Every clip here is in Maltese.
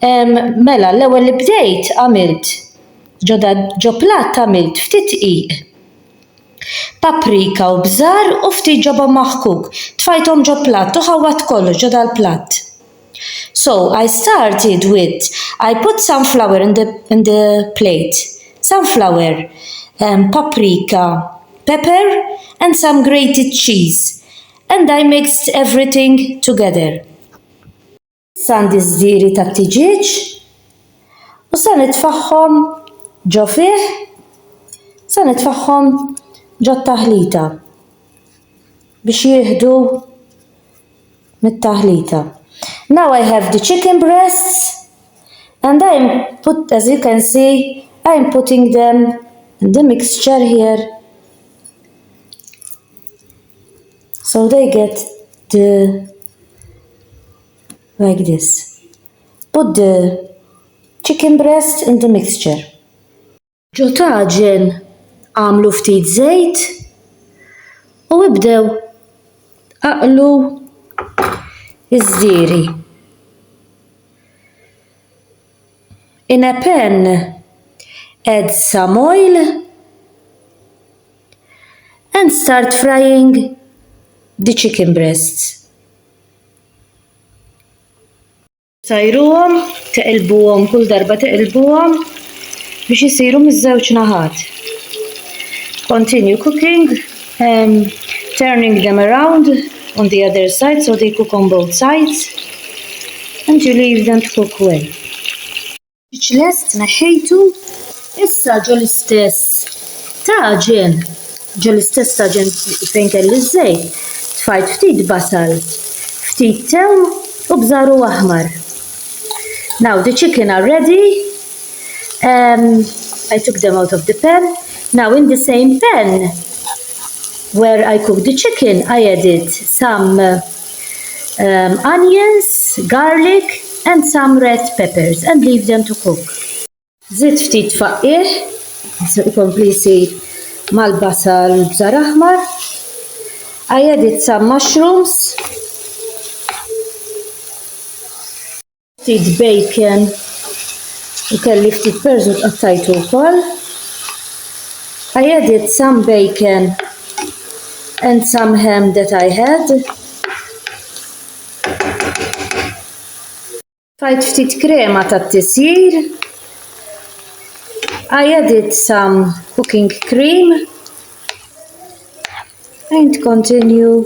Mela, l-ewwel li bdejt għamilt ġo platt għamilt ftit dqiq, paprika u bżar u ftit ġobon maħkuk. Tfajthom ġo platt u ħawwadt kollox ġo dal-platt. So, I started with, I put some flour in the in the plate, some flour, paprika, pepper and some grated cheese and I mixed everything together. Sandi żdiri tat-tiġieġ u se nitfagħhom ġo fih, se nitfagħhom ġo taħlita biex jieħdu mit-taħlita. Now I have the chicken breasts and I am put, as you can see, I am putting them in the mixture here. So they get the like this. Put the chicken breast in the mixture. Ġo taġen għamlu ftit żejt u ibdew aqlu iż-żieri. In a pan add some oil and start frying the chicken breasts. Tajruhom, teqilbuhom kull darba teqilbuhom biex isiru miż-żewġ naħat. Continue cooking, um, turning them around on the other side so they cook on both sides and you leave them to cook well. Mhux lest neħħejtu issa ġol istess taġen, ġol istess taġen fejn kelli żejt, tfajt ftit basal, ftit tew u bżaru aħmar. Now the chicken are ready. Um, I took them out of the pan. Now in the same pan where I cooked the chicken, I added some uh, um, onions, garlic and some red peppers and leave them to cook. Zid ftit faqqih, ikompli jsir mal-basal bżar aħmar. I added some mushrooms Ftit bacon u kelli ftit perżut qattajtu wkoll. I added some bacon and some ham that I had. Tajt ftit krema tat-tisjir. I added some cooking cream and continue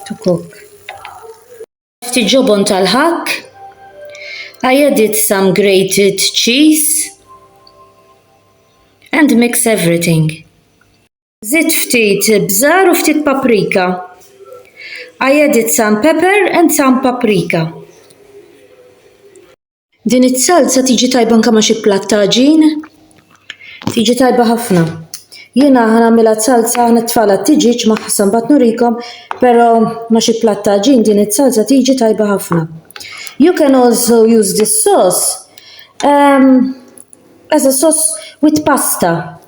to cook. Ftit ġobon tal-ħakk. I added some grated cheese and mix everything. Żidt ftit bżar u ftit paprika. I added some pepper and some paprika. Din is-salsa tiġi tajba anke ma' xi platt ta' ġin. Tiġi tajba ħafna. Jiena ħanamilha salsa ħna tfala t-tiġiġ ma ħassan bat nurikom, pero ma xi plat ta' ġin din it-salsa tiġi tajba ħafna. You can also use this sauce um, as a sauce with pasta.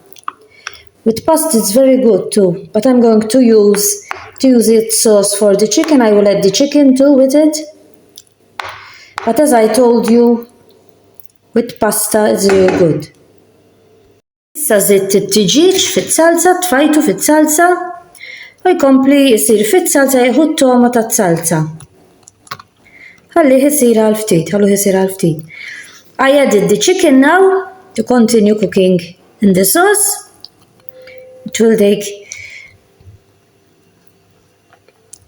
With pasta it's very good too, but I'm going to use to use it sauce for the chicken, I will add the chicken too with it. But as I told you, with pasta it's really good. Issa zitt it-tiġieġ fiz-zalza, tfajtu fiz-zalza, u jkompli jisir fiz-zalza jieħu t-toma taz-zalza. Ħalli jisir għal ftit, ħallu jisir għal ftit. I added the chicken now to continue cooking in the sauce. It will take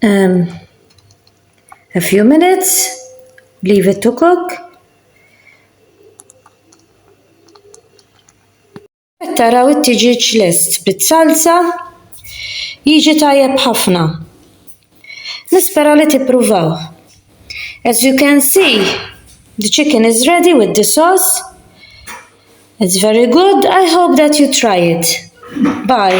Um, a few minutes, leave it to cook. Taraw it-tiġiġ lest bit-salsa, jiġi tajjeb ħafna. Nispera li tippruvaw. As you can see, the chicken is ready with the sauce. It's very good. I hope that you try it. Bye.